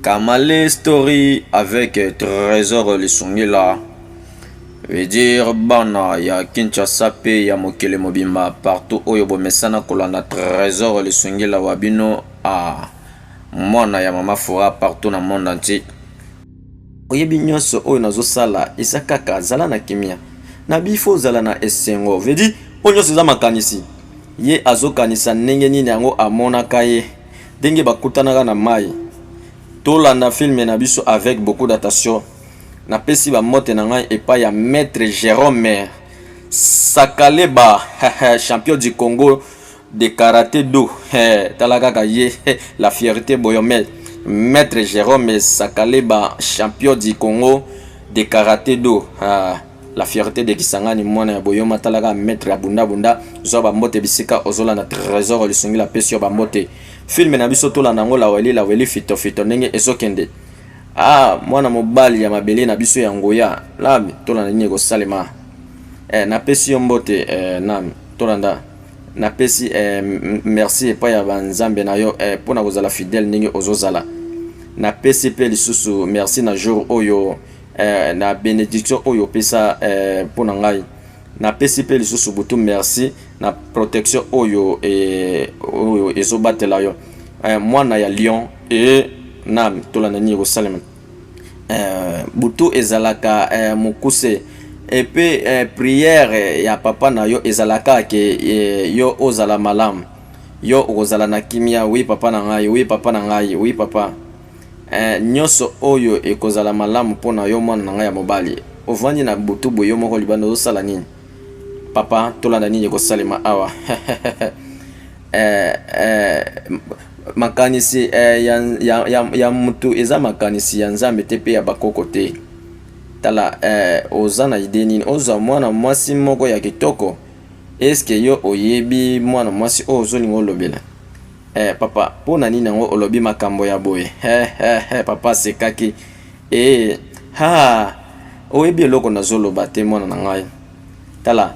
Kamale Story avec Trésor Lisungila veut dire bana ya Kinshasa pe ya mokili mobimba partout oyo bomesana kolanda Trésor Lisungila wa bino a ah, mwana ya mama fora partout na monde entier Oyebi nionso oyo nazo sala eza kaka zala na kimia na bi faut ozala na esengo veut dire oyo nionso eza makanisi ye azo kanisa ndenge nini yango amonaka ye ndenge bakutanaka na mayi tolanda film na biso avec beaucoup d'attention napesi ba mote na ngai epai ya maître Jerome Sakaleba champion du Congo de karate do eh, tala kaka ye eh, la fierté boyome maître Jérôme Sakaleba champion du Congo de karate do ah, la fierté de Kisangani mwana ya boyoma tala kaka maître ya bunda bunda zwa bambote bisika ozolanda trésor lisungi la pesi yo bambote filme na biso tolanda yango laweli laweli fito fito ndenge ezokende ah mwana mobali ya mabele na biso ya ngoya labi tolanda nini ekosalema eh, napesi yo mbote eh, nami tolanda napesi eh, merci epai ya banzambe na yo eh, mpo na kozala fidèle ndenge ozozala napesi mpe lisusu merci na jour oyo eh, na benediction oyo opesa eh, mpo na ngai napesi mpe lisusu butu merci na protection oyo, eh, oyo ezobatela yo eh, mwana ya lion e eh, na tolanda nini ekosalema eh, butu ezalaka eh, mokuse epe eh, priere ya papa na yo ezalaka ke eh, yo ozala malamu yo okozala na kimia wi papa na ngai wi papa na ngai wi papa eh, nyonso oyo ekozala malamu mpo na yo mwana na ngai ya mobali ovandi na butu boye yo moko libanda ozosala nini papa tolanda nini ekosalema awa Eh, eh, makanisi eh, ya, ya, ya, ya mutu eza makanisi ya Nzambe te pe ya bakoko te. Tala, eh, oza na idee nini? Ozwa mwana mwasi moko ya kitoko, eske yo oyebi mwana mwasi oyo ozolinga olobela? Eh, papa, mpo na nini yango olobi makambo ya boye? He, he, he, papa asekaki. Eh, ha, oyebi eloko nazoloba te, mwana na ngai. Tala,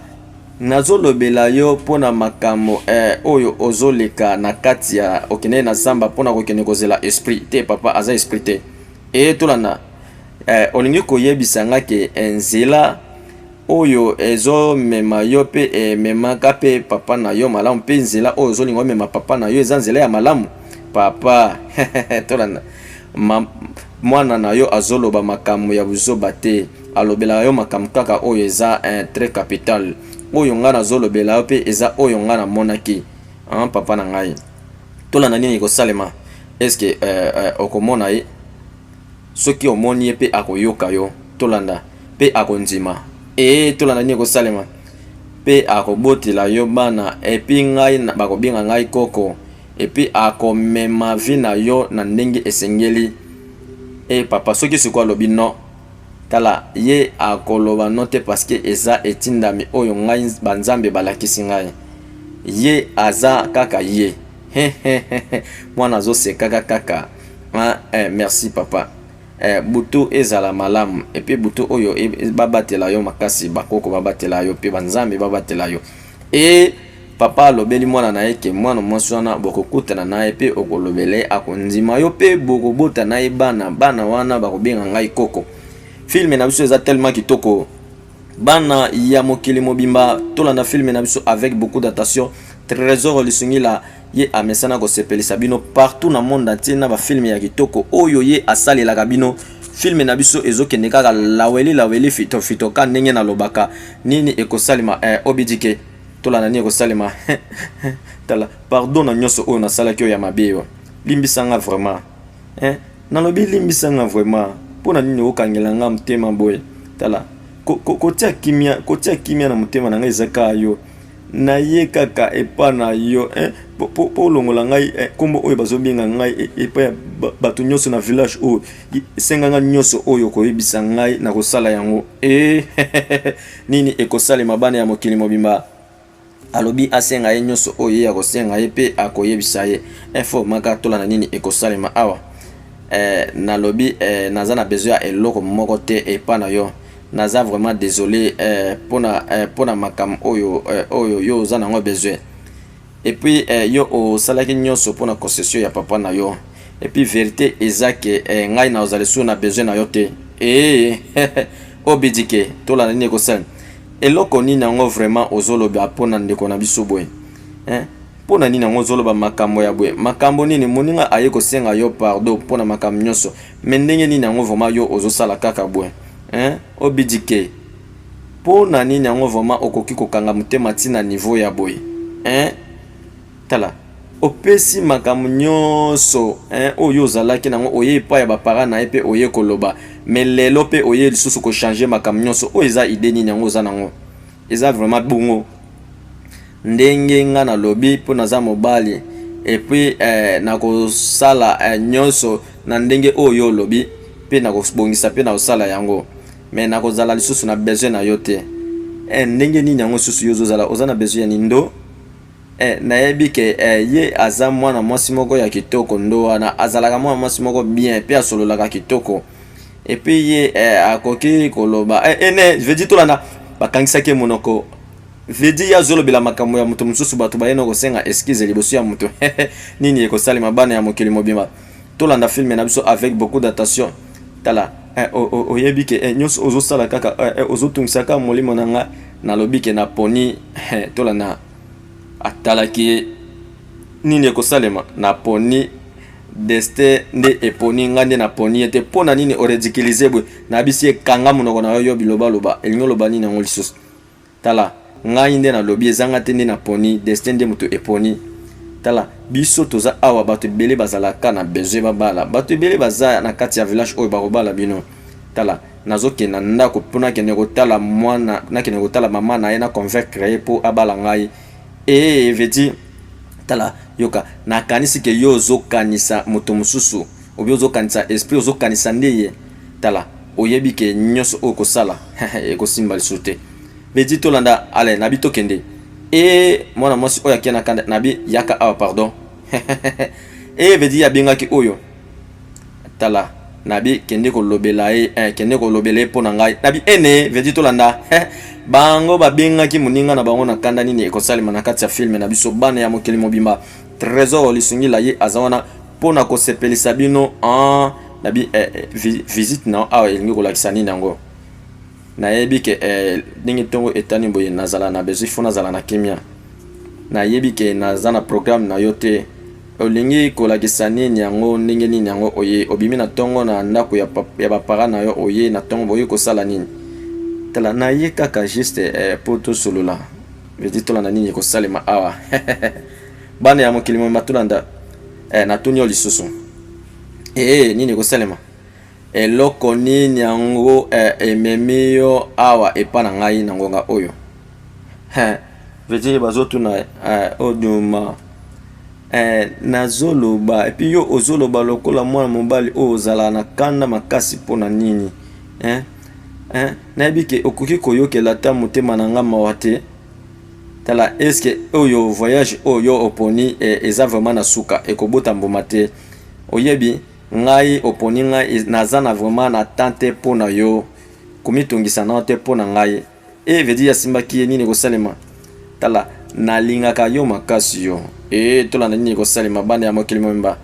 Nazo lobela yo pona makambo eh, oyo ozo leka na kati ya okende na zamba pona kokende kozela esprit te papa aza esprit te eye eh, tolanda eh, olingi koyebisa nga ke eh, nzela oyo ezo mema yo pe ememaka eh, pe papa na yo malamu pe nzela oyo ozo linga omema papa na yo eza nzela ya malamu papa tolanda mwana na yo azoloba makambo ya buzoba te alobelaka yo makambo kaka oyo eza eh, très capital oyo ngai nazolobela yo mpe eza oyo ngai namonaki ah, papa na ngai tolanda nini ekosalema eske eh, eh, okomona ye soki omoni ye mpe akoyoka yo tolanda mpe akondima ee tolanda nini ekosalema mpe akobotela yo bana epi ngai bakobenga ngai koko epi akomema vi na yo na ndenge esengeli e papa soki sikoyo alobi non Tala, ye akoloba non te, paske eza etindami oyo ngai banzambe balakisi ngai. Ye aza kaka ye. He he he he mwana azo sekaka kaka hein eh, merci papa eh, butu ezala malamu et puis butu oyo e, babatela yo makasi, bakoko babatela yo pe banzambe babatela yo et Papa alobeli mwana na ye ke mwana mwasi wana bokokutana na ye mpe okolobela ye akondima yo mpe bokobota na ye bana bana wana bakobenga ngai koko filme na biso eza tellement kitoko bana ya mokili mobimba tolanda filme na biso avec beaucoup d'attention trésor lisungila ye amesana kosepelisa bino partout na monde entier na bafilme ya kitoko oyo ye asalelaka bino filme na biso ezokende kaka laweli laweli fitofitoka ndenge nalobaka nini ekosalema eh, obidike tolanda nini ekosalema tala pardon na nyonso oyo nasalaki oyo ya mabe yo limbisa nga vraiment eh, nalobi limbisa nga vraiment mpo na nini okangela nga motema boye tala kotia kimia kotia kimia na motema na ngai eza kaka yo naye kaka epa na yo eh, mpo olongola ngai eh, nkombo oyo bazobenga ngai eh, epai ya bato nyonso na village oyo esenga ngai nyonso oyo koyebisa ngai na kosala yango e Nini ekosalema bana ya mokili mobimba alobi asenga ye nyonso oyo ye akosenga ye mpe akoyebisa ye info maka tola na nini ekosalema awa eh, nalobi eh, naza na besoin ya eloko moko te epa na yo naza vraiment désolé eh, pona, eh, pona makambo oyo, eh, oyo yo oza nango besoin Et puis eh, yo osalaki nyonso mpo na concession ya papa na yo. Et puis verite eza ke eh, ngai na ozali sur na besoin na yo te. Eh, obidike tolanda nini ekosala. Eloko nini yango vraiment ozoloba mpo na ndeko na biso boye? Eh? mpo na nini yango ozoloba makambo ya boye makambo nini moninga aye kosenga yo pardon mpo na makambo nyonso me ndenge nini yango vraimen yo ozosala kaka boye obidike Po na nini yango vraiment okoki ko kanga motema ti na niveau ya boye hein tala opesi makambo nionso hein oyo yo ozalaki nango oye epai ya ba parents naye pe oye koloba mais lelo pe oye lisusu ko changer makambo nionso oyo eza idee nini yango oza nango eza vraiment bongo ndenge nga na lobi po naza mobali et puis eh, nakosala eh, nionso na ndenge oyo olobi pe nakobongisa pe nakosala yango mais nakozala lisusu na besoin na yo te eh, ndenge nini yango lisusu yo ozozala oza na besoin ya nindo eh, nayebi ke eh, ye aza mwana mwasi moko ya kitoko ndo wana azalaka mwana mwasi moko bien mpe asololaka kitoko epuis ye eh, akoki koloba eh, eh, ne vedi tolanda bakangisaki ye monoko vedi ye azolobela makambo ya moto mosusu bato bayena kosenga eskize liboso ya moto nini ekosalema bana ya mokili mobimba tolanda filme na biso avec beaucoup d'attention tala eh, oyebi ke eh, nyonso ozosala kaka eh, ozotungisa kaka molimo na nga nalobi ke naponi tolanda atalaki ye nini ekosalema naponi destin nde eponi ngai nde naponi ye te mpo na nini oredikilize boye nayebisi ekanga monoko na yo yo bilobaloba elingi oloba nini yango lisusu Tala, ngai nde nalobi, ezanga te nde naponi, destin nde moto eponi. Tala, biso toza awa, bato ebele bazalaka na besoin babala, bato ebele baza na kati ya village oyo bakobala bino. Tala, nazokenda ndako mpo nakende kotala mwana, nakende kotala mama na ye, na convaincre ye mpo abala ngai. Ee, eh, veti, tala, yoka, nakanisi ke yo ozokanisa moto mosusu, obi ozokanisa esprit, ozokanisa nde ye. Tala oyebi ke nioso oyo kosala ekosimba lisusu te Bedi tolanda Alain nabi tokende ee mwana mwasi oyo akia na kanda nabi yaka awa pardon ee Bedi abengaki oyo tala nabi kende kolobela ye eh, kende kolobela ye mpo na ngai nabi ene Bedi tolanda bango babengaki moninga na bango na kanda nini ekosalema na kati ya filme na biso bana ya mokili mobimba Tresor Lisungila ye aza wana mpo na kosepelisa bino en na bi eh, eh, visite na awa elingi kolakisa nini yango nayebi ke eh, ndenge ntongo etani boye nazala na bezwi fo nazala na kimia nayebi ke naza na programme na yo te olingi kolakisa nini yango ndenge nini yango oye obimi na ntongo na ndako ya, ya bapara na yo oye na ntongo boye kosala nini tala naye kaka juste eh, mpo tosolola vedi tolanda nini ekosalema awa Bana ya mokili mobimba tolanda. Eh, natuni yo lisusu. Eh, nini ekosalema? Eloko nini yango eh, ememi yo awa epa na ngai na ngonga oyo? Eh, vedire bazotuna eh, oduma eh, nazoloba epi yo ozoloba lokola mwana mobali oyo ozala na kanda makasi mpo na nini eh? Eh, nayebi ke okoki koyokela ata motema na ngai mawa te Tala est ce que oyo voyage oyo oponi e, eza vraiment na suka ekobota mbuma te oyebi ngai oponi ngai e, naza na vraiment na temps te mpo na yo komitungisa nao te mpo na ngai e veut dire asimbaki ye nini ekosalema tala nalingaka yo makasi yo e tolanda nini ekosalema bana ya mokili mobimba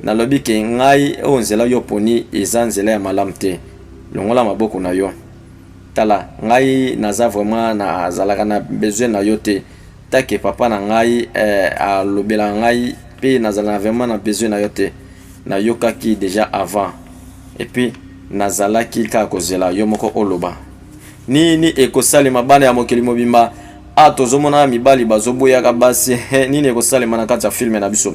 nalobi ke ngai oyo nzela yo oponi eza nzela ya malamu te longola maboko na yo Tala ngai naza vraiment na zalaka na besoin na yo te take papa na ngai eh, alobela ngai pe nazalaka vraiment na besoin na yo te nayokaki deja avant et puis nazalaki kaka kozela yo moko oloba nini ekosalema bana ya mokili mobimba a ah, tozomona mibali bazoboyaka basi nini ekosalema na kati ya filme na biso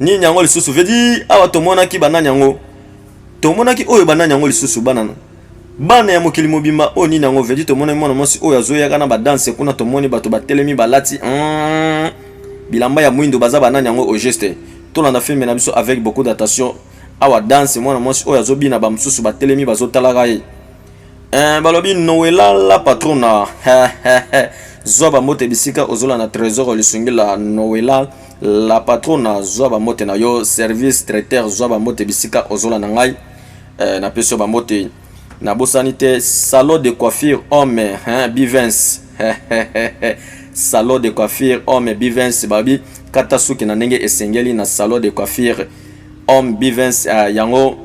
nini yango lisusu vedi awa tomonaki banani yango tomonaki oyo banani yango lisusu bana bana ya mokili mobimba oyo nini yango vedi tomonaki mwana mwasi oyo azoyaka na badanse kuna tomoni bato batelemi balati hmm, bilamba ya mwindo baza banani yango au geste tolanda filme na biso avec beaucoup d'attention awa danse mwana mwasi oyo azobina bamosusu batelemi bazotalaka ye eh, balobi noelala patrona zwa bambote bisika ozolanda trésor lisungila noelal la patrona zwa bambote na yo service traiteur zwa bambote bisika ozola na ngai eh, napesi yo bambote nabosani te salon de coiffure homme hein, bivens salon de coiffure homme bivens babi kata suki na ndenge esengeli na salon de coiffure homme bivens uh, eh, yango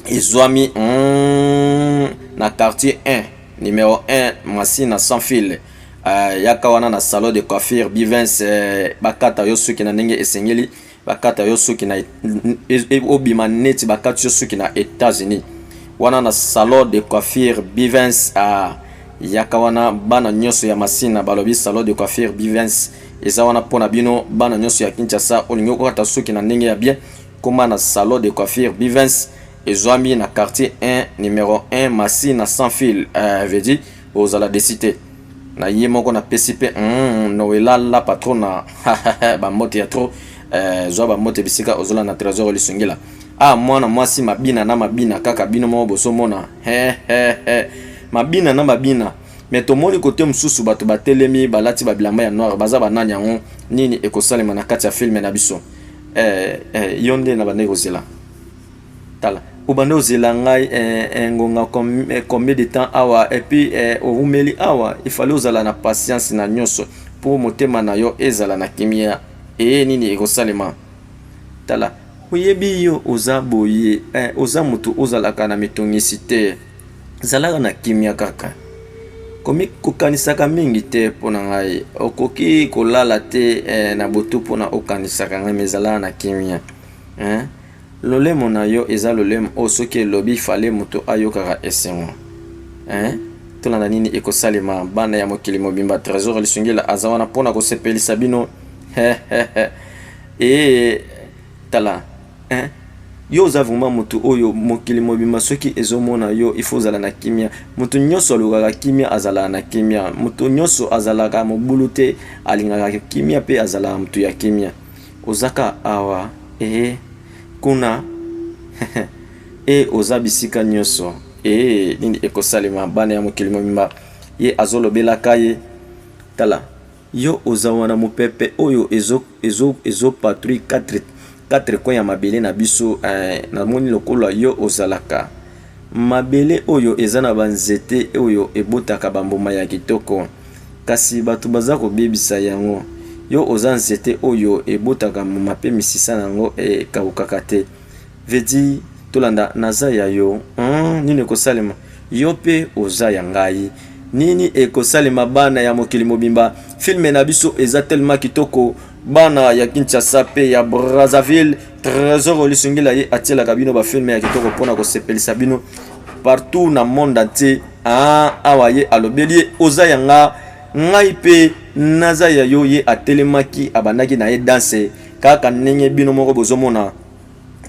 ezwami mm, na quartier 1 numéro 1 masina sans fil Uh, yaka wana na salon de coiffure bivens uh, eh, bakata yo suki na ndenge esengeli bakata yo suki na obima neti bakati yo suki na États-Unis wana na salon de coiffure bivens uh, yaka wana bana nyonso ya masina balobi salon de coiffure bivens eza wana mpo na bino bana nyonso ya kinshasa olingi okokata suki na ndenge ya bien koma na salon de coiffure bivens ezwami na quartier 1 numero 1 masina sans fil uh, eh, vedi Ozala desi te. Na ye moko na pesi pe mm, Noela la patrona ba mbote ya trop eh, zwa ba mbote bisika ozola na trésor lisungila. Ah mwana mwasi mabina na mabina kaka bino moko boso mona. He he he. Mabina na mabina. me tomoni kote mosusu bato batelemi balati babilamba ya noire baza banani yango nini ekosalema na kati ya filme na biso eh, eh, yo nde na bandeki kozela tala obanda ozela ngai eh, eh, ngonga eh, combien de temps awa epuis eh, owumeli awa ifale ozala na patience na nyonso mpo motema na yo ezala na kimia eye nini ekosalema tala oyebi yo oza boye eh, oza moto ozalaka na mitungisi te zalaka na kimia kaka kokanisaka mingi te mpo na ngai okoki kolala te eh, na botu mpo na okanisaka ngai mezalaka na kimia eh? Lolemo na yo eza lolemo oyo soki elobi fale moto ayokaka esengo hein? Tolanda nini ekosalema bana ya mokili mobimba Tresor Lisungila aza wana mpo na kosepelisa bino ee tala hein? yo oza vraimen motu oyo mokili mobima soki ezomona yo ifo ozala na kimia motu nyonso alukaka kimia azalaka na kimia motu nyonso azalaka mobulu te alingaka kimia mpe azalaka motu ya kimia Oza ka awa eeh kuna eeh oza bisika nioso eeh nini eko salema bana ya mokili mobimba ye azo lobela ka ye tala yo oza wana mupepe oyo ezo ezo ezo patrouille 4 4 coin ya mabele na biso eeh na moni lokola yo ozalaka Mabele oyo eza na banzete oyo ebotaka bambuma ya kitoko, kasi bato baza kobebisa yango. Yo oza nzete oyo ebotaka mbuma mpe misisa na yango ekaukaka te. Vedi, tolanda, naza ya yo. Hum, nini ekosalema? Yo mpe oza ya ngai. Nini ekosalema bana ya mokili mobimba? Filme na biso eza tellement kitoko. Bana ya Kinshasa mpe ya Brazzaville. Tresor Olisungila ye atielaka bino ba filme ya kitoko mpo na kosepelisa bino partout na monde entier. Ah, awa ye alobeli ye oza ya nga ngai mpe naza ya yo. Ye atelemaki abandaki na ye danse kaka ndenge bino moko bozomona.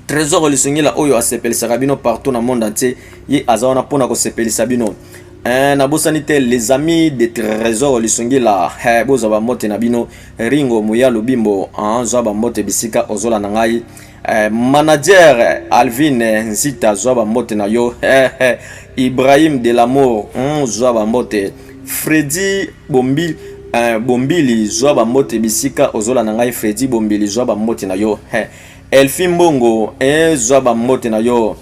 Tresor Olisungila oyo asepelisaka bino partout na monde entier, ye aza wana mpo na kosepelisa bino. Eh, nabosani te les amis de trésor lisungi la eh, bozwa bambote na bino ringo moya lobimbo ah, zwa bambote bisika ozola na ngai eh, manager alvine nzita zwa bambote na yo eh, eh, ibrahim de lamour mm, zwa bambote fredi bombi eh, bombili zwa bambote bisika ozola na ngai fredi bombili zwa bambote na yo eh, elfi mbongo eh, zwa bambote na yo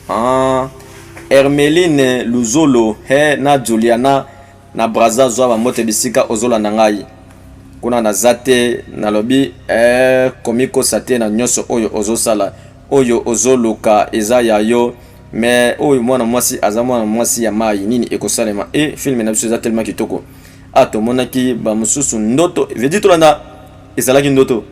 Ah, Hermeline Luzolo he na Juliana na Brazza zwa ba mote bisika ozolanda ngai kuna naza te nalobi eh, komikosa te na nyonso oyo ozosala oyo ozoluka eza ya yo mais oyo mwana mwasi aza mwana mwasi ya mai nini ekosalema e eh, filme na biso eza telema kitoko a ah, tomonaki bamosusu ndoto vedi tolanda ezalaki ndoto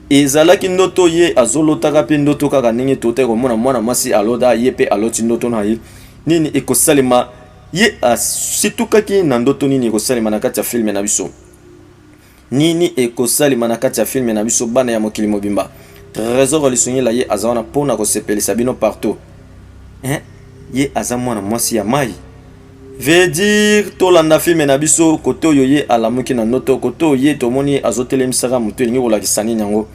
Ezalaki ndoto ye azolotaka pe ndoto kaka ndenge totaki komona mwana mwasi aloda ye pe aloti ndoto na ye nini ekosalema ye asitukaki na ndoto nini ekosalema na kati ya filme na biso nini ekosalema na kati ya filme na biso bana ya mokili mobimba tresor lisungila ye aza wana mpo na kosepelisa bino partout eh? ye aza mwana mwasi ya mai Veut dire tolanda filme na biso kote oyo ye alamuki na noto kote oyo ye tomoni ye azotelemisaka motu elingi kolakisa nini yango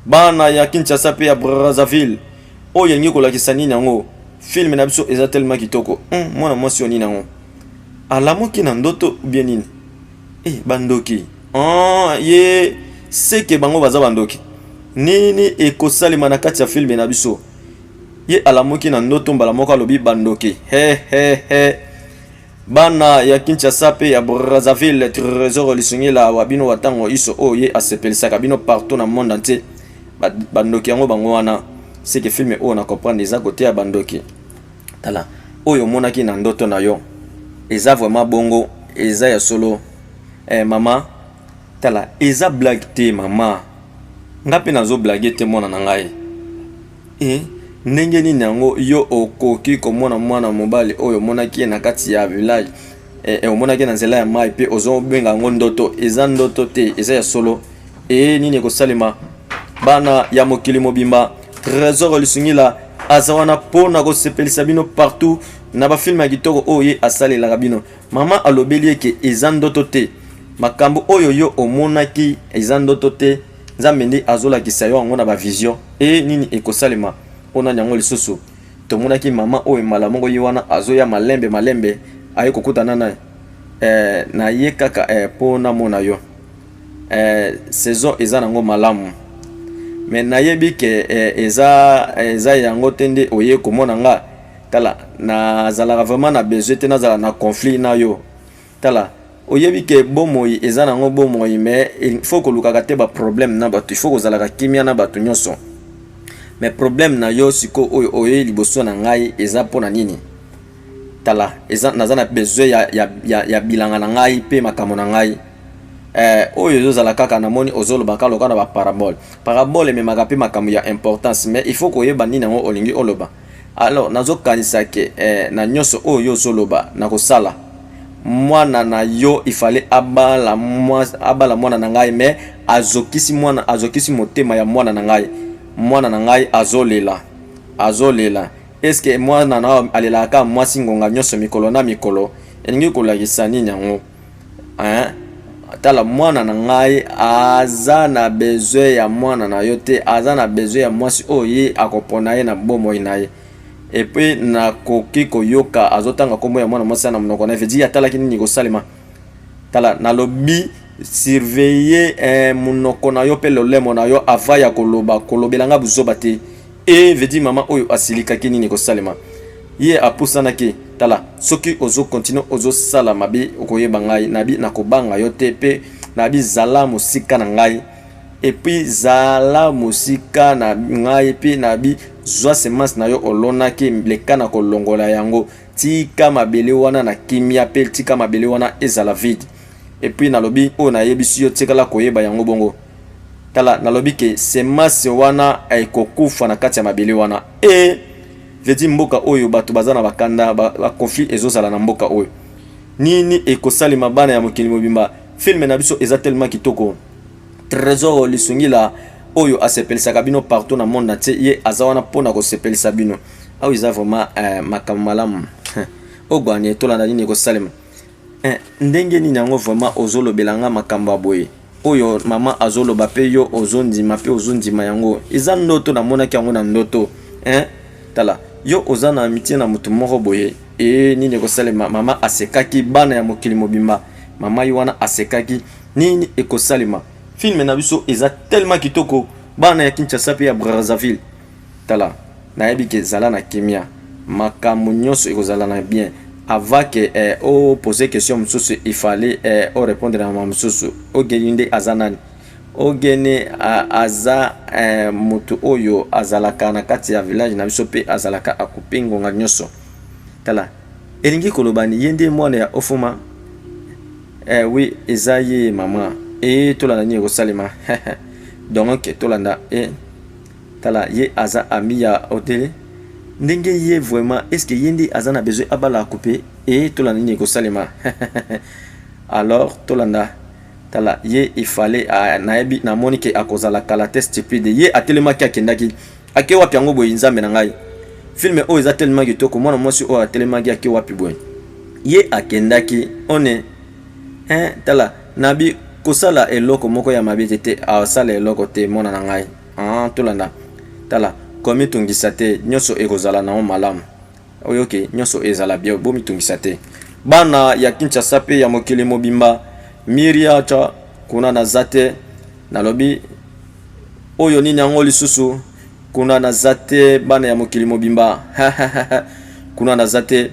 bana ya kinshasa mpe ya brazzaville oyo elingi kolakisa nini yango filme na biso eza telema kitoko hmm, mwana mwasi oyo nini yango alamuki na ndoto ubie nini e eh, bandoki oh, ye seke bango baza bandoki nini ekosalema na kati ya filme na biso Ye alamuki na ndoto mbala moko alobi bandoki he he he bana ya Kinshasa pe ya Brazzaville Tresor Lisungila awa bino wa tango iso oyo ye asepelisaka bino partout na monde entier bandoki yango bango wana seke filme oyo na comprendre eza koteya bandoki tala oyo omonaki na ndoto na yo eza vraiment bongo eza ya solo eh, mama tala eza blague te mama nga mpe nazo blague te mwana na ngai Ee, ndenge nini yango yo okoki komona mwana mobali oyo omonaki ye na kati ya village, e, e, omonaki na nzela ya mai mpe ozobenga yango ndoto? Eza ndoto te, eza ya solo. Ee, nini ekosalema? Bana ya mokili mobimba, Tresor Lisungila aza wana mpo na kosepelisa bino partout na bafilme ya kitoko oyo ye asalelaka bino. Mama alobeli eke eza ndoto te, makambo oyo yo omonaki eza ndoto te. Nzambe nde azolakisa yo yango na ba vision e nini ekosalema mpo nani yango lisusu tomonaki mama oyo mbala moko ye wana azoya malembe malembe aye kokutana na eh, na ye kaka eh, mpo eh, namona yo eh, saison eza nango malamu me nayebi ke eh, eza, eh, eza yango te nde oye komona nga tala nazalaka vraiment na besoin te nazala na conflit na yo Tala, oyebi ke bomoi eza nango bomoi mais il faut kolukaka te ba problème na batu, il faut kozalaka kimia na batu nionso. Mais problème na yo siko oyo oye liboso na ngai eza pona nini? Tala, eza naza na besoin ya, ya, ya, ya bilanga na ngai pe makambo na ngai eh, oyo ezozala kaka namoni ozoloba kaka lokola na baparabole parabole ememaka mpe makambo ya importance mais il faut koyeba nini yango olingi oloba Alors nazokanisa ke eh, na nyonso oyo yo ozoloba nakosala mwana na yo ifale abala mwana, abala mwana na ngai me azokisi mwana azokisi motema ya mwana na ngai mwana na ngai azolela azolela eske mwana na alelaka mwasi ngonga nyonso mikolo na mikolo elingi kolakisa nini yango hein tala mwana na ngai aza na besoin ya mwana na yo te aza na besoin ya mwasi oyo ye akopona ye na bomoi na ye epuis nakoki koyoka azotanga nkombo ya mwana mwasi na monoko na ye vedi atalaki nini kosalema tala nalobi surveiller eh, monoko na yo mpe lolemo na yo ava ya koloba kolobela ngai buzoba te e veut dire mama oyo asilikaki nini ekosalema ye apusanaki tala soki ozo continue ozosala mabe okoyeba ngai nabi nakobanga yo te mpe nabi zala mosika na ngai epuis zala mosika na ngai mpe nabi zwa semence na yo olonaki leka na kolongola yango tika mabele wana na kimia mpe tika mabele wana ezala vide epuis nalobi oyo nayebisi yo tikala koyeba yango bongo Tala, nalobi ke semence wana ekokufa na kati ya mabele wana. E vedi mboka oyo bato baza na bakanda, ba, ba conflit ezozala na mboka oyo. Nini ekosalema bana ya mokili mobimba? Film na biso eza tellement kitoko. Tresor Lisungila oyo asepelisaka bino partout na monde entier, ye aza wana mpo na kosepelisa bino. Awa eza vraiment eh, makambo malamu. Ogwani etolanda nini ekosalema? Eh, ndenge nini yango vraiment ozolobela nga makambo ya boye oyo mama azoloba mpe yo ozondima mpe ozondima yango eza ndoto namonaki yango na ndoto eh? tala yo oza na amitie na moto moko boye e nini ekosalema mama asekaki bana ya mokili mobimba mama ye wana asekaki nini ekosalema filme na biso eza tellement kitoko bana ya kinshasa mpe ya brazzaville Tala nayebi ke zala na kimia makambu nionso ekozala na bien avant ke eh, o pose question mususu il fallait eh, o repondre na mususu ogeni nde aza nani ogeni ah, aza eh, mutu oyo azalaka na kati ya village na biso pe azalaka akupi ngonga nionso tala elingi koloba ni ye nde mwana ya ofuma eh, oui eza ye mama e eh, tolanda nini ekosalema donc tolanda eh, Tala ye aza ami ya otele ndenge ye vraiment est ce que ye nde aza na besoin abala akupe et tolanda nini ekosalema alors tolanda tala ye il fallait nayebi namoni ke akozala kala te stupide ye atelemaki akendaki ake wapi yango boye nzambe na ngai filme oyo eza tellement kitoko mwana mwasi oyo atelemaki ake wapi boye ye akendaki one hein tala nabi kosala eloko moko ya mabe te te asala eloko te mwana na ngai Ah, tolanda. Tala, komitungisa te, nyonso ekozala na yo malamu. Oyoki, nyonso ezala bio, bomitungisa te. Bana ya Kinshasa mpe ya mokili mobimba, Miria cha kuna naza te, nalobi oyo nini yango lisusu kuna naza te, bana ya mokili mobimba kuna naza te.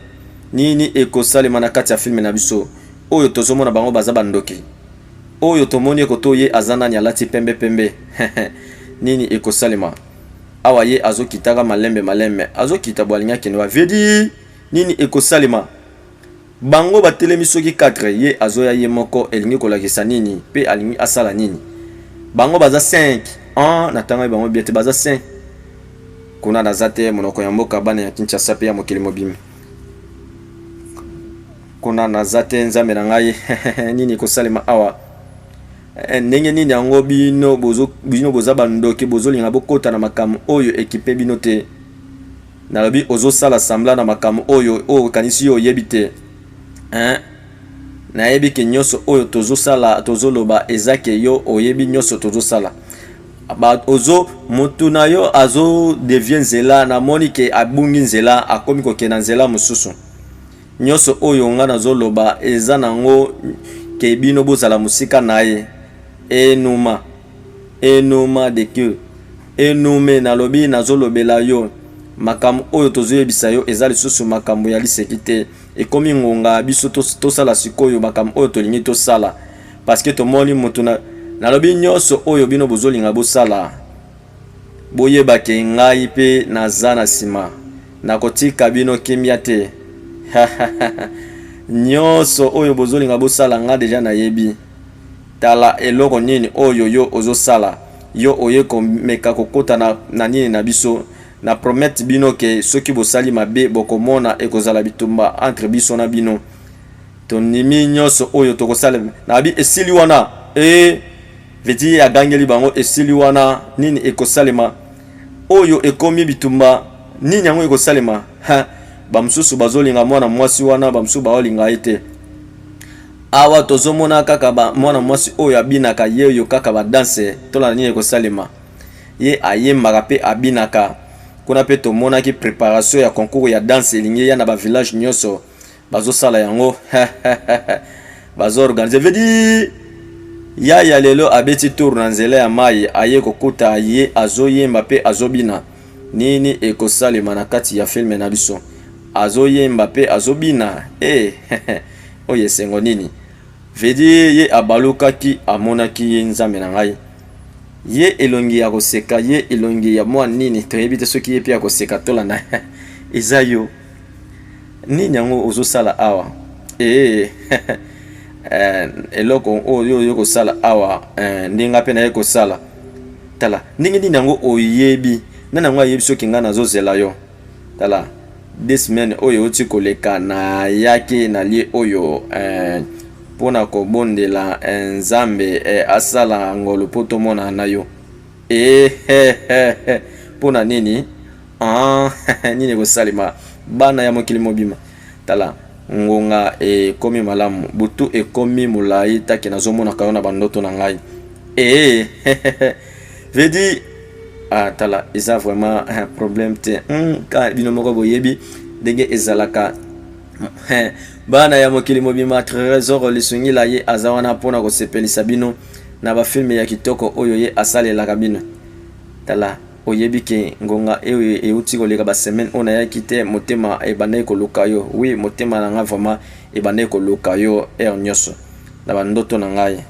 Nini ekosalema na kati ya filme na biso oyo tozomona bango baza bandoki Oyo tomoni ye koto ye aza nani alati pembe pembe nini ekosalema awa ye azokitaka malembe malembe azokita bwalingi akende wa vedi nini ekosalema bango batelemi soki 4 ye azoya ye moko elingi kolakisa nini pe alingi asala nini bango baza 5 an natangaki bango biete baza 5 kuna naza te monoko ya mboka bana ya kinshasa pe ya mokili mobimba Kuna naza te nzambe na ngai nini ekosalema awa eh, ndenge nini yango bino bozo bino boza bandoki bozolinga bokota na makambo oyo ekipe bino te nalobi ozosala sambla na makambo oyo oyo okanisi yo oyebi te eh? nayebi ke nyonso oyo tozosala tozoloba eza ke yo oyebi nyonso tozosala ozo motu na yo azo devie nzela namoni ke abungi nzela akomi kokenda nzela mosusu Nionso oyo nga nazo loba eza na ngo que bino bozala mosika naye enuma enuma de que enume nalobi nazo lobela yo makambo oyo tozo yebisa yo eza lisusu makambo ya liseki te ekomi ngonga biso tosala sikoyo makambo oyo tolingi tosala parce que tomoni mutu na nalobi nionso oyo bino bozolinga bosala Boyeba ke ngai pe naza na sima, nakotika bino kimia te hahahahha nionso oyo bozolinga bosala nga deja nayebi, tala eloko nini oyo yo ozosala, yo oye komeka kokota na na nini na biso, na promettre bino ke soki bosali mabe bokomona ekozala bitumba entre biso na bino, tondimi nionso oyo tokosala, nabi esili wana eeh. Vedi ye agangeli bango esili wana nini ekosalema oyo ekomi bitumba nini yango ekosalema ha bamosusu bazolinga mwana mwasi wana bamosusu baolinga ye te awa tozomona kaka ba mwana mwasi oyo abinaka ye oyo kaka badanse tolanda nini ekosalema ye ayembaka mpe abinaka kuna mpe tomonaki preparation ya concours ya danse elingi eya na bavillage nyonso bazosala yango bazoorganize vedi yaya lelo abeti tour na nzela ya mai aye kokuta ye azoyemba mpe azobina nini ekosalema na kati ya filme na biso azoyemba mpe azobina e oyo esengo nini vedi ye abalukaki amonaki ye nzambe na ngai ye elongi ya koseka ye elongi ya mwa nini toyebi te soki ye mpe akoseka tolanda eza yo nini yango ozosala awa ee eh, eloko oyo oye kosala awa eh, ndenge nga mpe naye kosala tala ndenge nini yango oyebi nani yango ayebi soki ngai nazozela yo tala de semaine oyo euti koleka nayaki na lie oyo eh, mpo na kobondela eh, nzambe eh, asala ngolu mpo tomonana na yo ehehehe eh, eh, eh, mpo na nini Ah, nini ekosalema bana ya mokili mobima? Tala, ngonga ekomi malamu, butu ekomi molai, taki nazomonaka yo na bandoto na ngai. Ee, eh, vedi ah, tala, eza vraiment eh, problème te hmm, ka bino moko boyebi ndenge ezalaka eh, bana ya mokili mobima. Tresor Lisungila ye aza wana mpo na kosepelisa bino na bafilme ya kitoko oyo ye asalelaka bino. Tala Oyebi que ngonga oyo euti koleka ba semaines oyo nayaki te, motema ebandaki koluka yo. Oui, motema na ngai vraiment ebandaki koluka yo heure nionso na ba ndoto na ngai.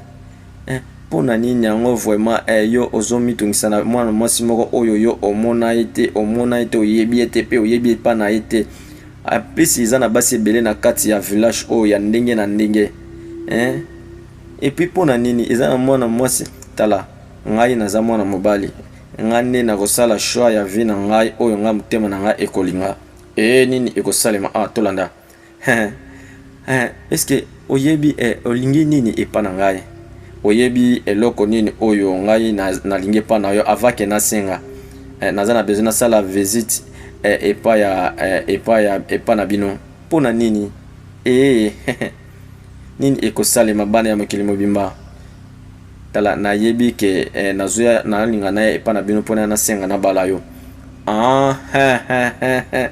Eh, pona nini yango vraiment eh, yo ozo mitungisa na mwana mwasi moko oyo yo omona ye te, omona ye te, oyebi ye te pe oyebi epa na ye te. En plus eza na basi ebele na kati ya village oyo ya ndenge na ndenge. Eh, et puis pona nini eza na mwana mwasi tala. Ngai naza mwana mobali, ngai nde nakosala choix ya vie na ngai oyo ngai motema na ngai ekolinga. Ee nini ekosalema awa tolanda. Hee hee eske oyebi eh, olingi nini epa na ngai? Oyebi eloko nini oyo ngai nalingi epa na yo avake nasenga eh, naza na besoin nasala visite eh, epa ya eh, epa ya epa na bino mpo na nini? Ee nini ekosalema bana ya mokili mobimba tala na yebi ke eh, nazoya na linga na epa na bino pona na senga na bala yo ah he he he he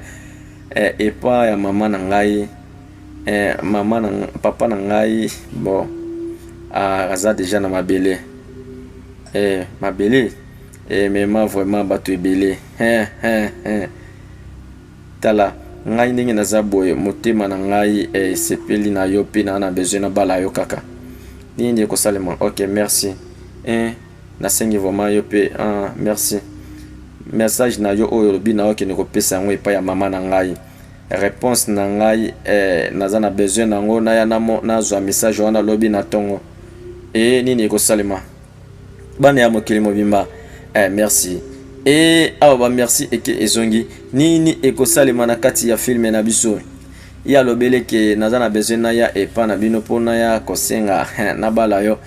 eh, epa ya mama na ngai eh, mama na papa na ngai bon ah, aza deja na mabele eh, mabele eh, mema vraiment bato ebele he he he Tala, ngai ndenge naza boye, motema na ngai esepeli na yo pe na na besoin na bala yo kaka. Nini nde ekosalema? Ok, merci. Eeh, nasengi vraiment yo pe aah, merci. Message na yo oyo olobi nao kende kopesa yango epai ya mama na ngai. Reponse na ngai eeh, naza na besoin na yango, naya nazua message wana lobi na tongo. Eeh, nini ekosalema? bana ya mokili mobimba eh, merci e awa ba merci eke ezongi nini ekosalema na kati ya filme na biso ye alobeli ke naza na besoin naya epa na bino mpo naya kosenga eh, nabala yo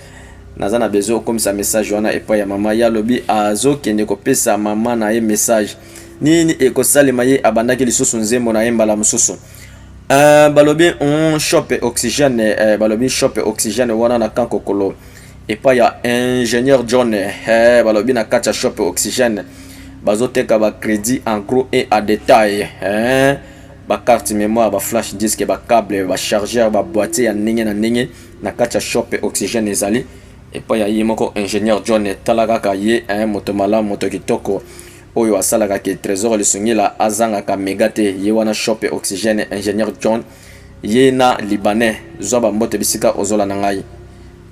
naza na besoin okomisa message wana epai ya mama ye alobi azokende kopesa mama na ye message nini ekosalema ye abandaki lisusu nzembo na ye mbala mosusu uh, balobi mm, shop oxygène uh, balobi shop oxygène wana na kankokolo epai ya ingénieur John eh, balobi na kati ya shop oxygène bazoteka ba crédit en gros et à détail eh, ba carte mémoire ba flash disque ba cable ba chargeur ba boîtier ya ndenge na ndenge na kati ya shop oxygène ezali epai ya ye moko ingénieur John tala kaka ye eh, moto malamu moto kitoko oyo asalaka ke trésor lisungila azangaka mega te ye wana shop oxygène ingénieur John ye na libanais zwa bambote bisika ozolanda ngai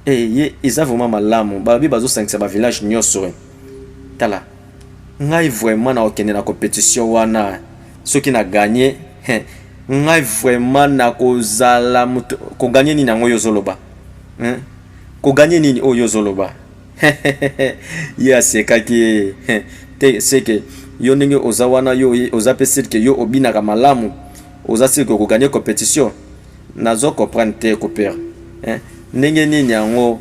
eye eh, eza vraiment malamu balobi bazosangisa bavillage nyonso eh. tala ngai vraiment nakokende na compétition wana soki na gagne eh, ngai vraiment nakozala moto koganye nini yango oyo ozoloba koganye nini oyo ozoloba ye asekaki te seke yo ndenge oza wana yo oza mpe sirke yo obinaka malamu Oza sur que oko gagner competition? Nazo comprendre te ko père. Hein? Ndenge nini yango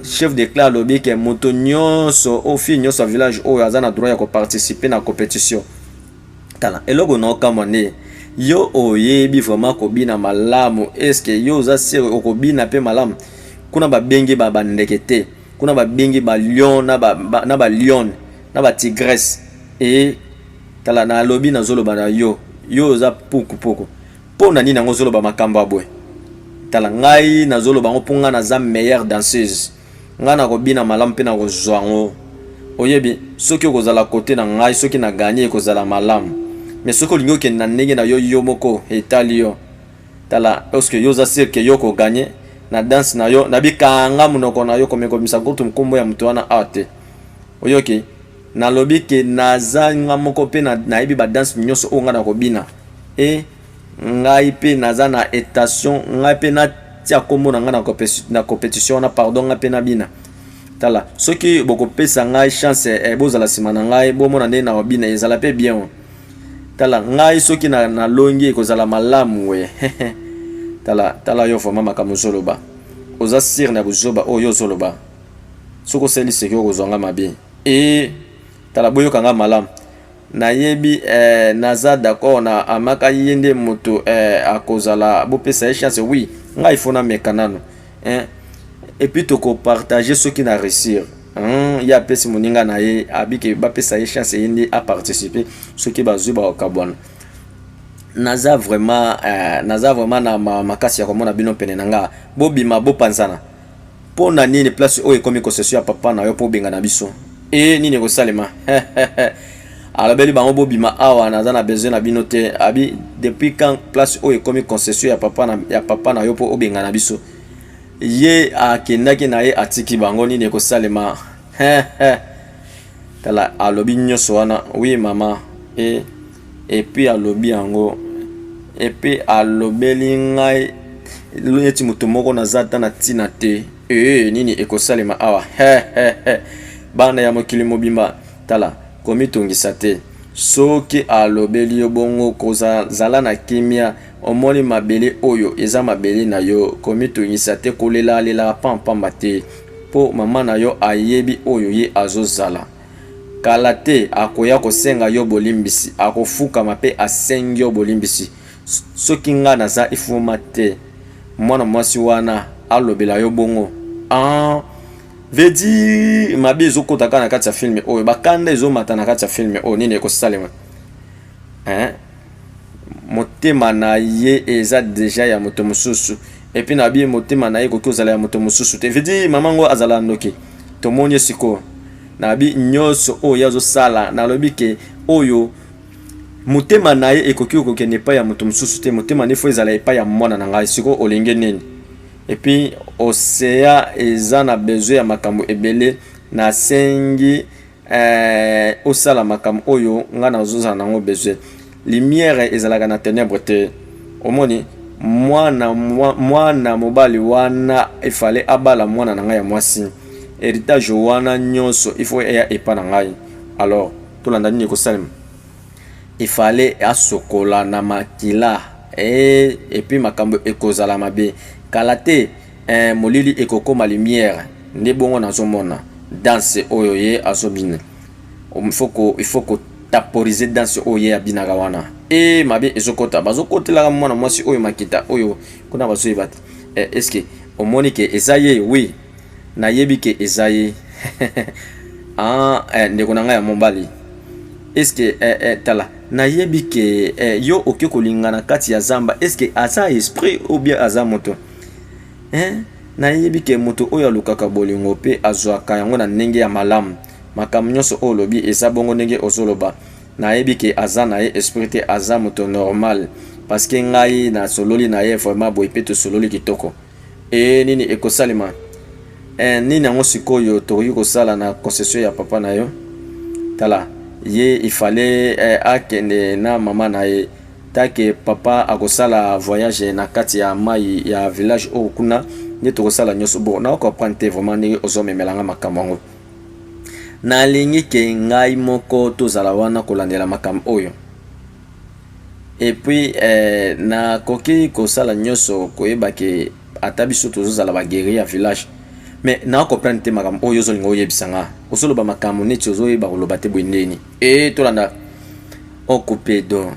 chef de clan alobi ke moto nyonso o fille nyonso ya village oyo aza na droit ya koparticipe na competition tala eloko na okamwa nde yo oyebi vraiment kobina malamu eske yo oza sere okobina mpe malamu kuna babengi ba bandeke te kuna babengi balion na balione na batigrese e Tala na lobi na zoloba na yo yo oza puku puku pona nini yango zoloba makambo abwe tala ngai na zoloba ngo ponga na za meilleur danseuse ngai na kobina malamu pe na kozwa ngo oyebi soki okozala kote na ngai soki na ganye ekozala malamu me soki olingi okende na ndenge na yo yo moko etali yo tala oske yo oza sirke yo koganye na danse na yo na bikanga monoko na yo komekomisa kutu nkombo ya moto wana awa te oyoki Nalobi ke naza nga moko pe na, nayebi ba danse nyoso oyo nga nakobina e ngai pe naza na etation ngai pe na tia kombo na nga na competition wana pardon ngai pe nabina tala soki bokopesa ngai chance eh, bozala nsima na ngai bomona ndenge nakobina ezala pe bien o tala ngai soki na, na longi ekozala malamu we tala tala yo vraimen makambo ozoloba oza sire na buzoba oyo ozoloba soki osali seki okozwa nga mabe ee tala boyoka nga malamu nayebi eh, naza d'accord na amaka ye nde moto eh, akozala bopesa ye chance oui ngai ifo nameka nano eh, epuis tokopartage soki na réussir hmm, ye apesi moninga na ye abike bapesa ye chance ye nde aparticipe soki bazwi bakokabwana naza vraiment eh, naza vraiment na makasi ya komona bino pene na nga bobima bopanzana Mpo na nini place oyo ekomi concession ya papa na yo mpo obengana biso? E nini ekosalema? alobeli bango bobima awa naza na besoin na bino te abi depuis quand place oyo ekomi concession ya papa na, ya papa na yo mpo obengana biso ye akendaki na ye atiki bango nini ekosalema tala alobi nyonso wana wi mama e Epuis alobi yango epuis alobeli ngai neti moto moko naza ata na ntina te ee nini ekosalema awa hehehe bana ya mokili mobimba tala komitungisa te soki alobeli yo bongo kozala na kimia omoni mabele oyo eza mabele na yo komitungisa te kolelalela pampamba te mpo mama na yo ayebi oyo ye azozala Kala te akoya kosenga yo bolimbisi, akofukama pe asengi yo bolimbisi. Soki nga naza ifuma te mwana mwasi wana alobela yo bongo aah veut dire mabe ezokota kaka na kati ya filme oyo, ba kanda ezomata na kati ya filme oyo, nini ekosalema hein? motema na ye eza deja ya moto mosusu epuis na bie motema na ye ekoki kozala ya moto mosusu te vedi mama yango azala ndoki tomoni ye sikoyo na bi nyonso oyo ye azosala nalobi ke oyo motema na ye ekoki kokende epai ya moto mosusu te motema nefo ezala epai ya mwana na ngai sikoyo olingi nini epuis osea eza na besoin ya makambo ebele nasengi eh, osala makambo oyo ngai nazozala nango besoin lumière ezalaka na ténèbre te omoni mwana mwana mobali wana efale abala mwana na ngai ya mwasi héritage wana nyonso ifo eya epa na ngai alors tolanda nini ekosalema efale asokola na makila e, eh, epuis makambo ekozala mabe kala te Eh molili ekokoma lumière nde bongo nazomona danse oyo ye azobina ifoko ifoko taporize danse oyo ye abinaka wana e mabe ezokota bazokotelaka mwana mwasi oyo makita oyo kuna bazoyeba te eh, eske omoni ke eza ye wi nayebi ke eza ye ah, eh, ndeko na ngai ya mobali eske eh, eh, tala nayebi ke eh, yo oke kolingana kati ya zamba eske aza esprit ou bien aza moto Hein? Nayebi ke moto oyo alukaka bolingo pe azwaka yango na ndenge ya malamu. Makambo nionso oyo olobi eza bongo ndenge ozoloba. Nayebi ke aza na ye esprit te aza moto normal. Parce que ngai nasololi na ye vraiment boye pe tosololi kitoko. Ee nini ekosalema? Ee nini yango sikoyo tokoki kosala na concession ya papa na yo? Tala ye il fallait akende na mama na ye. Ta que papa akosala voyage na kati ya mayi ya village oyo kuna nde tokosala nyonso bo na comprendre te vraiment ndenge ozomemela nga makambo yango nalingi ke ngai moko tozala wana kolandela makambo oyo epuis eh, nakoki kosala nyonso koyeba ke ata biso tozozala baguerrier ya village mais na comprendre te makambo oyo ozolinga oyebisa nga ozoloba makambo neti ozoyeba koloba te boye ndeni Ee, tolanda Okopedo.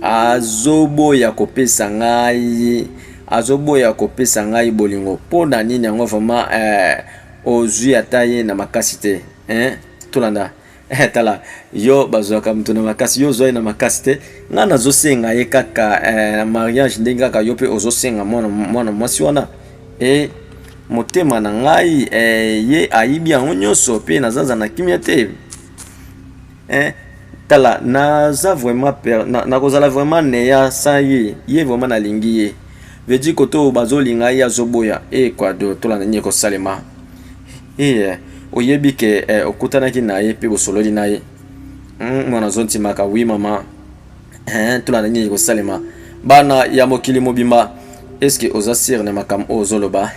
Azoboya kopesa ngai, azoboya kopesa ngai bolingo. Mpo na nini yango vraiment eh, ozwi ata ye na makasi te eh? Tolanda eh, tala yo bazwaka moto na makasi, yo ozwa ye na makasi te. Ngai nazosenga ye kaka eh, na mariage, ndenge kaka yo mpe ozosenga mwana mwana mwasi wana eh, motema na ngai eh, ye ayibi yango nyonso, mpe nazanza na kimia te. eh, tala naza vraiment per nakozala na vraiment neya sans ye ye vraiment nalingi ye vedi kote oyo bazolinga ye azoboya ecuador eh, tolanda nini ekosalema eye eh, eh, oyebi ke eh, okutanaki na ye mpe bosololi na ye hmm, mwana mm, azontimaka wi mama eh, tolanda nini ekosalema bana ya mokili mobimba eske oza sire na makambo oyo ozoloba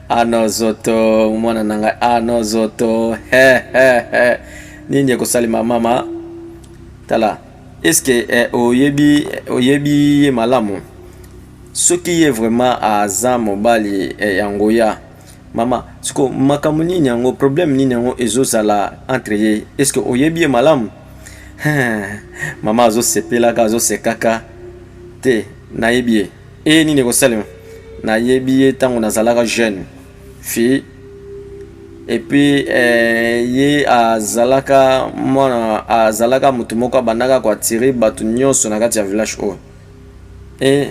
ano zoto mwana na ngai ano zoto he he he nini ekosalema mama tala eske eh, oyebi oyebi ye malamu soki ye vraiment aza mobali eh, ya ngoya mama siko makambo nini yango problème nini yango ezozala entre ye eske oyebi ye malamu mama azosekaka azosekaka te nayebi ye eye nini ekosalema nayebi ye ntango nazalaka jeune fille epuis eh, ye azalaka mwana azalaka motu moko abandaka koatire bato nyonso na kati ya village oyo e,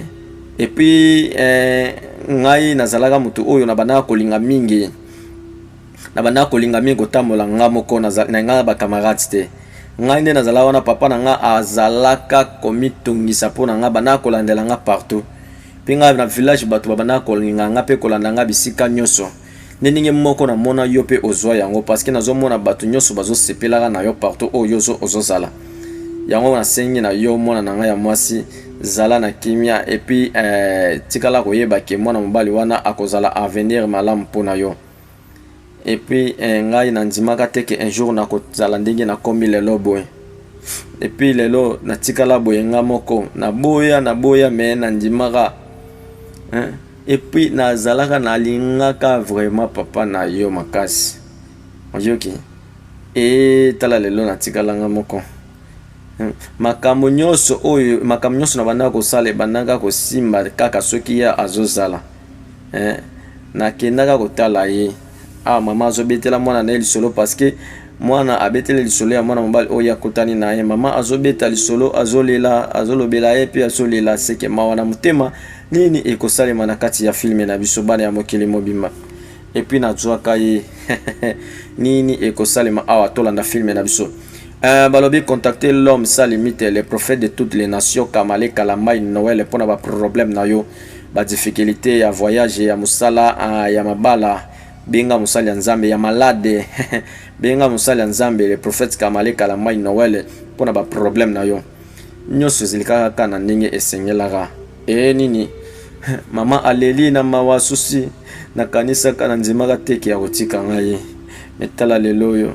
epuis eh, ngai nazalaka motu oyo nabandaka kolinga mingi Na banda kolinga mingi kotambola nga moko na nga na ba camarades te. Ngai nde nazala wana papa na nga azalaka komitungisa mpo na nga banda kolandela nga partout. Mpe nga na village bato ba banda kolinga nga mpe kolanda nga bisika nyoso. Nde ndenge moko na mona yo mpe ozua yango parce que nazo mona bato nyoso bazo sepelaka na yo partout oyo yo ozo zala. Yango na sengi na yo mwana na nga ya mwasi zala na kimia et puis eh, tikala koyeba ke mwana mobali wana akozala avenir malamu mpo na yo. et puis eh, ngai nandimaka te ke un jour nakozala ndenge nakomi lelo boye et puis lelo natikala boye nga moko naboya naboya me nandimaka hein? et puis nazalaka nalingaka vraiment papa na yo makasi oyoki e tala lelo natikala nga moko hmm. makambo nyonso oyo makambo nyonso na bandaka kosala ebandaka kosimba kaka soki ye azozala eh, nakendaka kotala ye ah, mama azobetela mwana na ye lisolo parceke mwana abeteli lisolo ya mwana mobali oyo akutani na ye mama azobeta lisolo azolela azolobela ye mpe azolela seke mawa na motema nini ekosalema na kati ya filme na biso bana ya mokili mobimba epuis nazwaka ye nini ekosalema awa tolanda filme na biso Uh, balobi contacter l'homme sans limite le prophète de toutes les nations kamale kalamai noel mpo na baproblème na yo badifficulté ya voyage ya mosala uh, ya mabala benga mosali ya nzambe ya malade benga mosali ya nzambe le prophète kamale kalamai noel mpo na baproblème na yo nyonso ezali kaka na ndenge esengelaka Ee nini mama aleli na mawa susi nakanisaka na ndimaka teke ya kotika ngai metala lelo oyo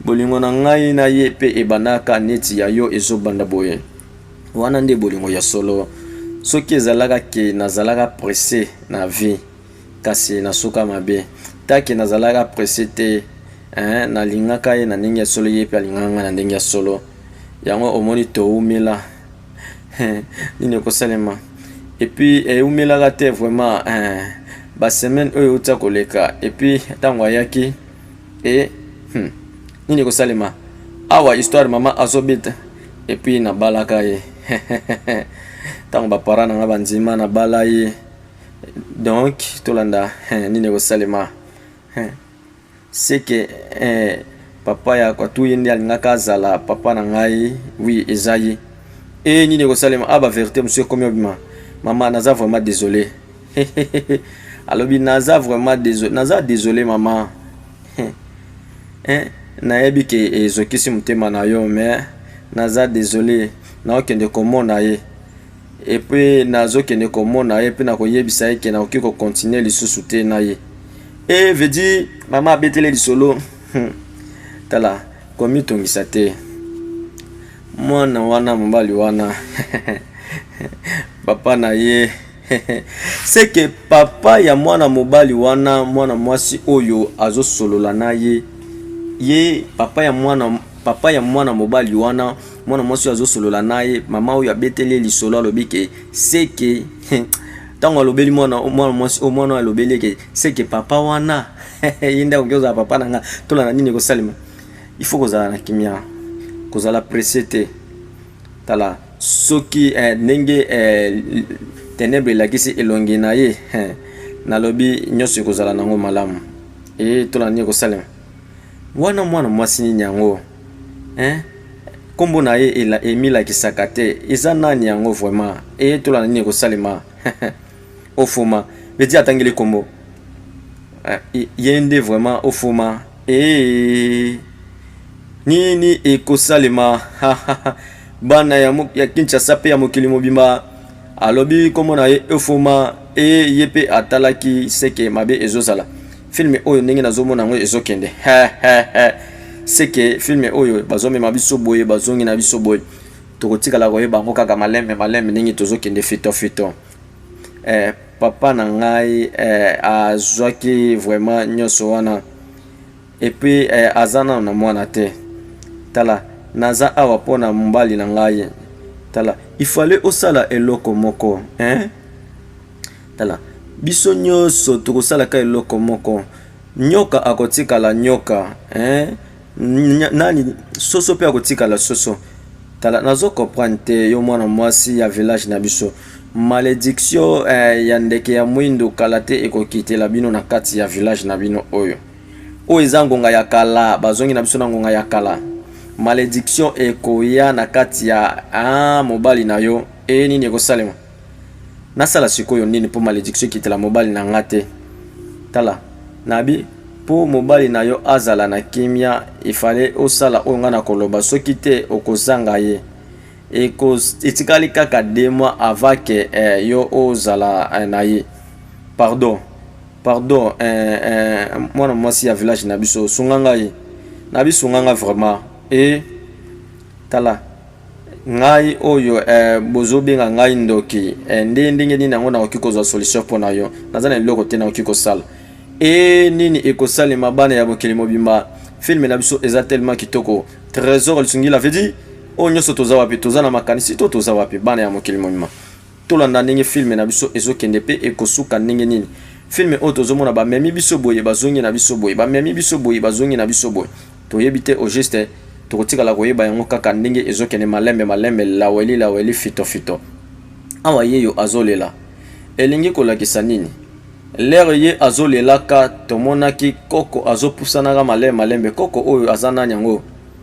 bolingo na ngai na ye mpe ebandaka neti ya yo ezobanda boye wana nde bolingo ya solo soki ezalaka ke nazalaka presse na vie Kasi nasuka mabe. Taki nazalaka presse te eeh na lingaka ye na ndenge ya solo yepe alingaka nga na ndenge ya solo yango omoni towumela nini ekosalema epuis ewumelaka te vraiment eh, ba semaine oyo euti koleka epuis ntango ayaki e hmm, nini ekosalema awa histoire mama azobeta epuis nabalaka ye ntango bapara na nga bandima nabala ye donc tolanda eh, nini ekosalema eh, seke eh, papa ya kwatu ye nde alingaka azala papa na ngai wi eza ye e nini ekosalema a ah, baverité mosusu ekomi obima mama naza vraiment désolé alobi naza vraiment désolé naza désolé mama nayebi ke ezokisi motema na yo mais naza désolé naokende komona ye Et puis nazo kende komona ye pe nakoyebisa ye ke nakoki ko continuer lisusu te na ye. Et veut dire mama abetele lisolo hmm. tala komitungisa te mwana wana mobali wana papa na ye seke papa ya mwana mobali wana mwana mwasi oyo azosolola na ye ye papa ya mwana papa ya mwana mobali wana mwana mwasi oyo azosolola na ye mama oyo abeteli ye lisolo alobi ke seke ntango alobeli mwana mwana mwasi oyo mwana oyo alobeli eke seke papa wana ye nde akoki kozala papa na nga tola na nini ekosalema il faut kozala na kimia kozala presse te tala soki eh, ndenge eh, tenebre elakisi elongi na ye eh, nalobi nyonso ekozala nango malamu e tola nini ekosalema wana mwana mwasi nini yango hein kombo na ye emilakisaka te eza nani yango vraiment eyetola na nini ekosalema ofuma beti atangeli kombo eh, ye nde vraiment ofuma ee nini ekosalema bana ya, ya kinshasa mpe ya mokili mobimba alobi kombo na ye ofuma ee ye mpe atalaki seke mabe ezozala Film oyo ndenge nazomona yango ezokende seke film oyo bazomema biso boye bazongi na biso boye tokotikala koyeba yango kaka malembe malembe ndenge tozokende fito fito eh, papa na ngai eh, azwaki vraiment nyonso wana epuis eh, aza nano na mwana te tala naza awa mpo na mobali na ngai tala ifale osala eloko moko eh? Tala, biso nyonso tokosala ka eloko moko. Nyoka akotikala nyoka, eh? Nani soso pe akotikala soso. Tala, nazo comprendre te yo mwana mwasi ya village na biso. Malediction eh, ya ndeke ya mwindu kala te ekokitela bino na kati ya village na bino oyo. Oyo eza ngonga ya kala, bazongi na biso na ngonga ya kala. Malediction ekoya na kati ya ah, mobali na yo. Eh, nini ekosalema? nasala sikoyo nini mpo malediction ekitela mobali na nga te tala nabi mpo mobali na yo azala na kimia efale osala oyo ngai nakoloba soki te okozanga ye etikali kaka de mois avant ke eh, yo ozala eh, na ye pardon pardon eh, eh, mwana mwasi ya village na biso sunga ngai na bisunga ngai vraiment e eh, tala ngai oyo eh, bozobenga ngai ndoki eh, nde ndenge nini yango nakoki kozwa solution mpo na yo naza na eloko te nakoki kosala e nini ekosalema bana ya mokili mobimba filme na biso eza tellement kitoko trésor lisungila vedi oyo nyonso toza wapi toza na makanisi to toza wapi bana ya mokili mobimba Tolanda ndenge film na biso ezokende pe ekosuka ndenge nini. Film oyo tozomona bamemi biso boye bazongi na biso boye bamemi biso boye bazongi na biso boye toyebi te au juste tokotikala koyeba yango kaka ndenge ezokende malembe malembe laweli laweli fito fito awa yeyo azolela elingi kolakisa nini lere ye azolelaka tomonaki koko azopusanaka malembe malembe koko oyo aza nani yango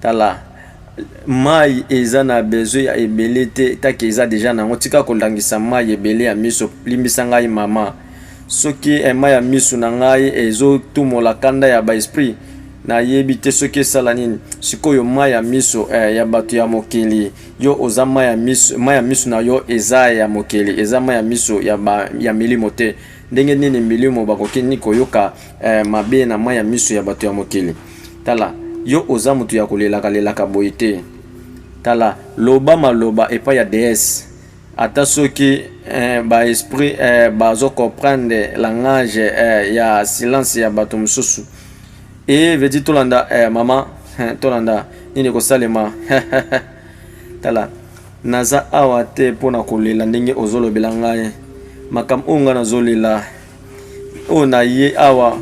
Tala mayi eza na besoin ya ebele te etake eza deja na yango tika kolangisa mayi ebele ya miso limbisa ngai mama soki ema ya misu na ngai ezotumola kanda ya baesprit nayebi te soki esala nini sikoyo mai ya miso eh, ya bato ya mokili yo oza mai ya miso, mai ya miso na yo eza ya mokili eza mai ya miso ya, ba, ya milimo te Ndenge nini milimo bakoki ni koyoka eh, mabe na mai ya miso ya bato ya mokili? Tala, yo oza moto ya kolelaka lelaka boye te. Tala, loba maloba epai ya deesse ata soki eh, baesprit eh, bazo comprendre langage eh, ya silence ya bato mosusu e veut dire tolanda eh, mama eh, tolanda nini ekosalema tala Naza awa te mpo na kolela ndenge ozolobela ngai makambo oyo ngai nazolela oyo naye awa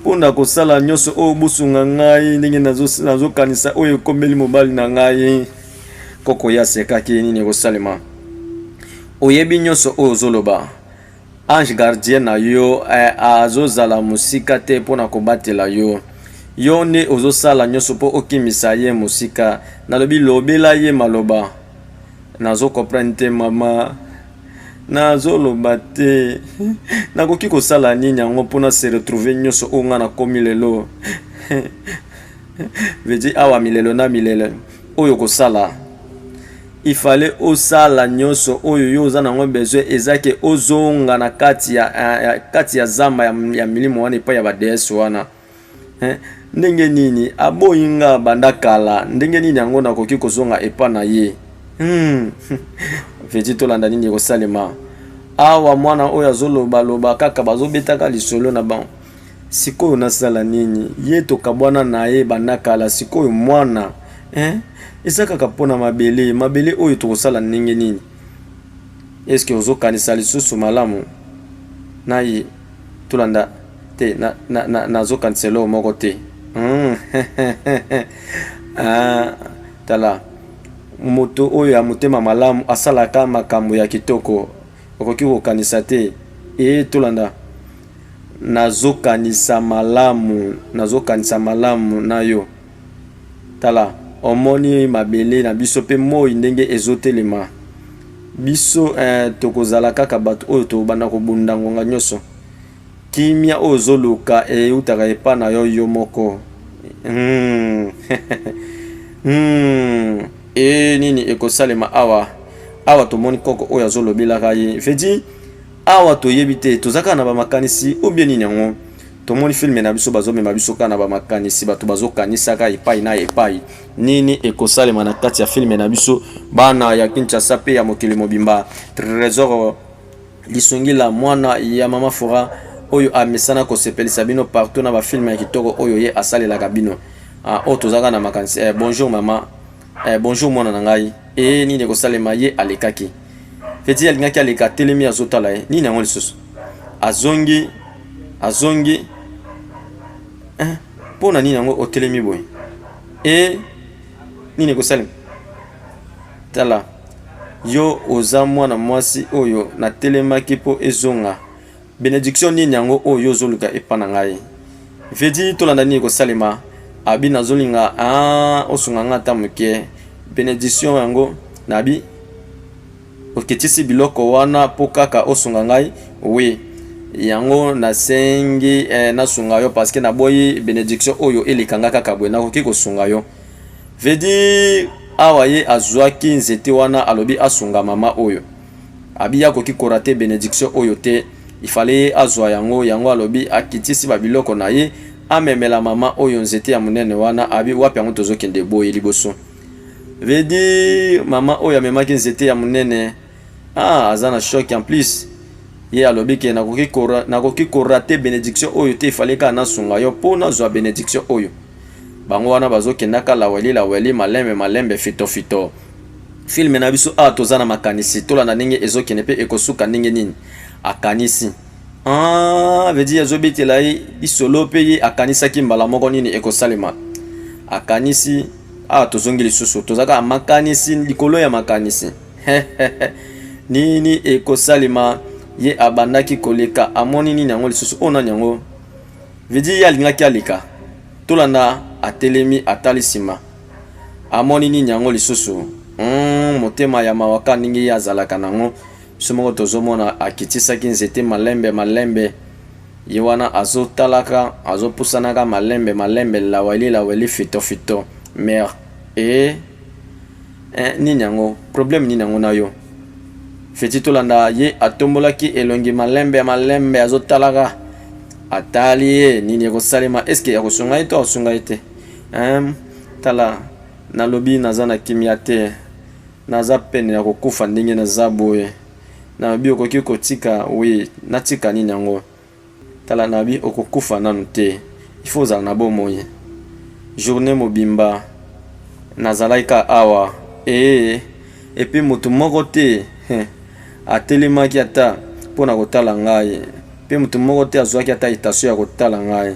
mpo na kosala nyonso oyo bosunga ngai ndenge nazokanisa oyo ekomeli mobali na ngai koko ya sekaki nini ekosalema oyebi nyonso oyo ozoloba Ange gardien na yo eh, azozala mosika te mpo na kobatela yo. Yo nde ozosala nyonso mpo okimisa ye mosika. Nalobi lobela ye maloba. Nazo comprendre te mama. nazoloba te nakoki kosala nini yango mpo na se retrouve nyonso oyo ngai nakomi lelo vedi awa milelo na milele oyo kosala Il fallait osala nioso oyo yo oza nango besoin eza ke ozonga na kati ya, ya, ya kati ya zamba ya, ya milimo wana epai ya ba deesse wana eh? Ndenge nini aboyi nga banda kala, ndenge nini yango nakoki kozonga epa na ye hmm. Veti tolanda nini ekosalema awa mwana oyo azoloba loba kaka bazobetaka lisolo na bango Sikoyo nasala nini? Ye tokabwana na ye banda kala, sikoyo mwana eh? Eza kaka mpo na mabele. Mabele oyo tokosala ndenge nini? Eske ozokanisa lisusu malamu na ye? Tolanda te, nazokanisa na, na, na eloko moko te hmm. ah, tala moto oyo ya motema malamu asalaka makambo ya kitoko, okoki kokanisa te. Ee, tolanda Nazokanisa malamu, nazokanisa malamu na yo. Tala, omoni mabele na biso pe moi ndenge ezotelema? Biso, ee, tokozala kaka bato oyo tokobanda kobunda ngonga nyonso. Kimia oyo ozoluka eutaka epai na yo yo moko. Hmm. hmm. Ee, nini ekosalema awa? Awa tomoni koko oyo azolobelaka ye. Vedi, Awa toyebi te toza kaka na ba makanisi ou bien nini yango. Tomoni filme na biso bazo mema biso kaka na ba makanisi bato bazo kanisaka epai na epai. Nini ekosalema na kati ya filme na biso bana ya Kinshasa pe ya mokili mobimba. Tresor Lisongila mwana ya mama Fora oyo amesana kosepelisa bino partout na ba filme ya kitoko oyo ye asalelaka bino. Ah, oyo tozaka na makanisi. Eh, bonjour mama. Eh, bonjour mwana na ngai ee eh, nini ekosalema ye alekaki feti alingaki aleka atelemi azotala ye eh, nini yango lisusu azongi azongi eh, mpo na nini yango otelemi boye e nini ekosalema tala yo oza mwana mwasi oyo natelemaki mpo ezonga Benediction nini yango oyo yo ozoluka epa na ngai? Vedi tolanda nini kosalema? Abi nazolinga ah, osunga ngai ata moke. Benediction yango nabi okitisi biloko wana mpo kaka osunga ngai oui yango nasengi eh, nasunga yo parce que naboyi benediction oyo eleka nga kaka boye nakoki kosunga yo vedi awa ye azwaki nzete wana alobi asunga mama oyo Abiya akoki korate benediction oyo te, il fallait ye azwa yango, yango alobi akitisi ba biloko na ye amemela mama oyo nzete ya monene wana, abi wapi yango tozokende boye liboso veut dire mama oyo amemaki nzete ya monene ah, aza na choc en plus ye alobi ke nakoki korate benediction oyo te, il fallait kaka nasunga yo mpo nazwa benediction oyo bango wana bazokendaka laweli laweli malembe malembe fitofito fito. filme na biso awa toza na makanisi tolanda ndenge ezokende mpe ekosuka ndenge nini akanisi ah, vedi azobetela ye lisolo mpe ye akanisaki mbala moko nini ekosalema akanisi awa tozongi lisusu tozalaka na makanisi likolo ya makanisi nini ekosalema ye abandaki koleka amoni nini yango lisusu oyo nani yango vedi ye alingaki aleka tolanda atelemi atali nsima amoni nini yango lisusu mm, motema ya mawaka ndenge ye azalaka nango biso moko tozomona akitisaki nzete malembe malembe ye wana azotalaka azopusanaka malembe malembe laweli laweli fitofito mer e eh, nini yango problème nini yango na yo feti tolanda ye atombolaki elongi malembe malembe azotalaka atali ye nini ekosalema eske akosunga ye to akosunga ye te Ehm tala nalobi naza na kimia te naza pene ya kokufa ndenge naza boye nalobi okoki kotika oui natika nini yango tala nalobi okokufa nanu te il faut ozala na bomoi journée mobimba nazalaki ka awa ee epi motu moko te atelemaki ata mpo na kotala ngai mpe motu moko te azwaki ata etasio ya kotala ngai